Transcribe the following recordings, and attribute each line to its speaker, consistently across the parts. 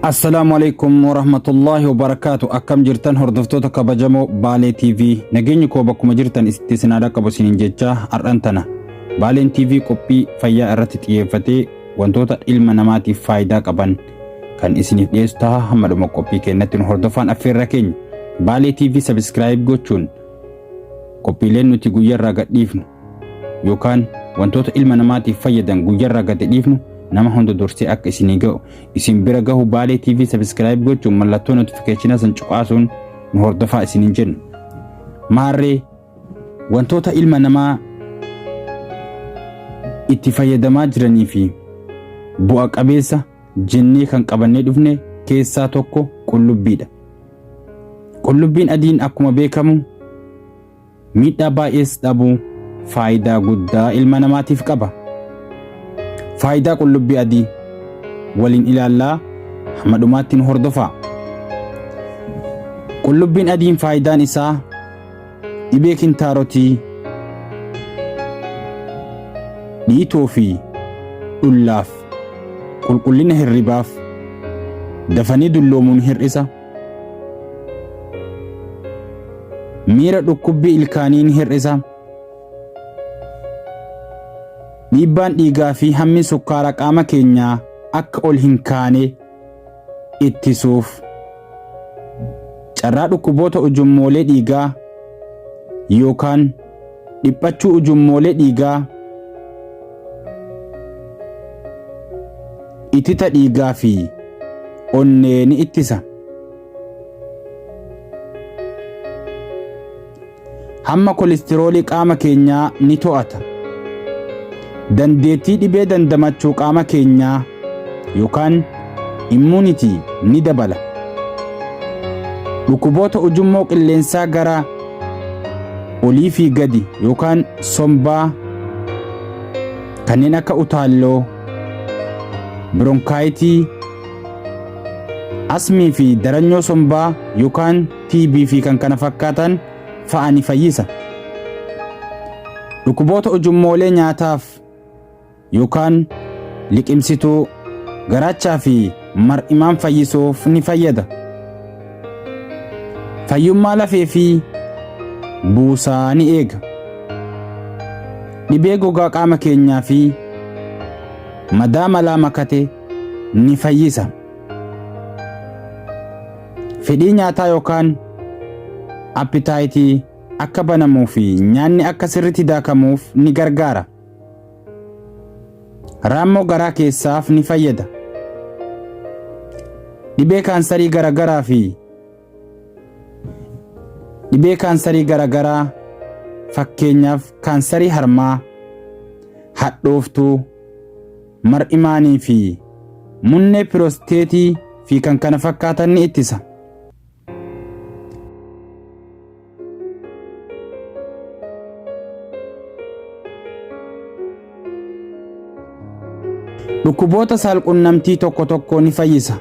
Speaker 1: Assalaamu alaikum warahmatullaahi wabarakaatu akkam jirtan hordoftoota kabajamoo Baalee TV nageenyi koo bakkuma jirtan itti isin haa dhaqqabu isiniin jechaa har'an tana Baaleen TV qophii fayyaa irratti xiyyeeffatee wantoota ilma namaatiif faayidaa qaban kan isiniif dhiyeessu taha hamma dhuma qophii keenyatti nu hordofaan affeerra keenya baalee tv sabiskiraayib gochuun qophiileen nuti guyyarraa gad dhiifnu yookaan wantoota ilma namaatiif fayyadan guyyarraa gad dhiifnu nama hunda dursee akka isinii ga'u isin bira gahu baalee tv sabiskiraayib gochuun mallattoo notifikeeshinaa san cuqaasuun nu hordofaa isiniin jenna maarree Wantoota ilma namaa itti fayyadamaa jiranii fi bu'a qabeessa jennee kan qabannee dhufne keessaa tokko qullubbiidha. Qullubbiin adiin akkuma beekamu miidhaa baay'ees dhabuu faayidaa guddaa ilma namaatiif qaba. Faayidaa qullubbii adii waliin ilaallaa hamma dhumaatti nu hordofaa. Qullubbiin adiin faayidaan isaa Dhibee kintaarotii, dhiitoo fi dhullaaf, qulqullina hirribaaf, dafanii dulloomuun hir'isa, miira dhukkubbii ilkaanii ni hir'isa, dhiibbaan dhiigaa fi hammi sukkaara qaama keenyaa akka ol hin kaane ittisuuf carraa dhukkuboota ujummoolee dhiigaa yookaan dhiphachuu ujummoolee dhiigaa itita dhiigaa fi onnee ni ittisa. Hamma kolistiroolii qaama keenyaa ni to'ata. Dandeettii dhibee dandamachuu qaama keenyaa yookaan immunity ni dabala. Dhukkuboota ujummoo qilleensaa gara olii fi gadi yookaan sombaa kanneen akka utaalloo, bironkaayitii, asmii fi daranyoo sombaa yookaan TB fi kan kana fakkaatan fa'a ni fayyisa. Dhukkuboota ujummoolee nyaataaf yookaan liqimsituu garaachaa fi mar'imaan fayyisuuf ni fayyada. Fayyummaa lafee fi buusaa ni eega. Dhibee gogaa qaama keenyaa fi madaa malaa makate ni fayyisa. Fedhii nyaataa yookaan appitaayitii akka banamuu fi nyaanni akka sirriitti daakamuuf ni gargaara. Raammoo garaa keessaaf ni fayyada. Dhibee kaansarii garagaraa fi dhibee kaansarii garagaraa fakkeenyaaf kaansarii harmaa, hadhooftuu, mar'imaanii fi munnee pirosteetii fi kan kana fakkaatan ni ittisa. Dhukkuboota saalqunnamtii tokko tokko ni fayyisa.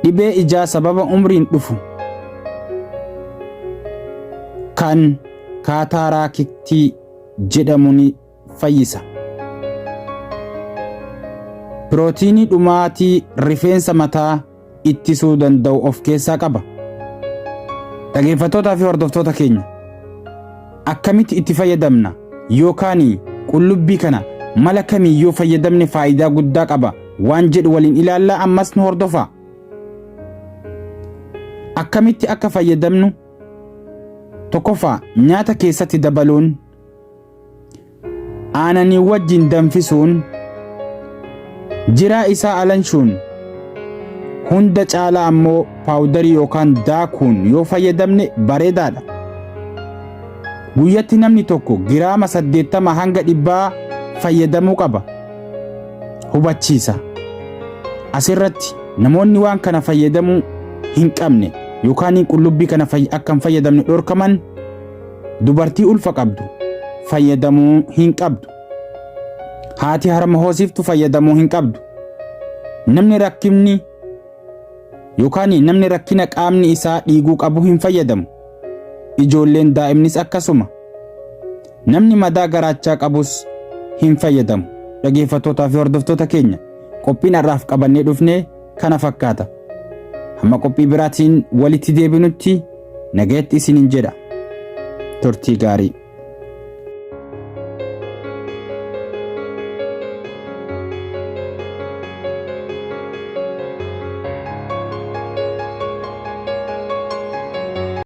Speaker 1: Dhibee ijaa sababa umriin dhufu kan kaataaraakittii jedhamu ni fayyisa. Pirootiinii dhumaatii rifeensa mataa ittisuu danda'u of keessaa qaba. Dhageeffattootaa fi hordoftoota keenya akkamitti itti fayyadamna yookaan qullubbii kana mala kamiin yoo fayyadamne faayidaa guddaa qaba waan jedhu waliin ilaallaa ammas nu hordofaa. Akkamitti akka fayyadamnu tokkoffaa nyaata keessatti dabaluun aananii wajjin danfisuun jiraa isaa alanshuun hunda caalaa ammoo paawudarii yookaan daakuun yoo fayyadamne bareedaadha. Guyyatti namni tokko giraama saddeettama hanga dhibbaa fayyadamuu qaba. Hubachiisa. Asirratti namoonni waan kana fayyadamuu hin qabne yookaan qullubbii kana akka hin fayyadamne dhorkaman Dubartii ulfa qabdu fayyadamuu hin qabdu. Haati harma hoosiftu fayyadamuu hin qabdu. Namni rakkimni yookaan namni rakkina qaamni isaa dhiiguu qabu hin fayyadamu. Ijoolleen daa'imnis akkasuma. Namni madaa garaachaa qabus hin fayyadamu. Dhageeffattootaa fi hordoftoota keenya qophiin har'aaf qabannee dhufnee kana fakkaata. Hamma qophii biraatiin walitti deebinutti nagayatti isiniin jedha. Turtii gaarii.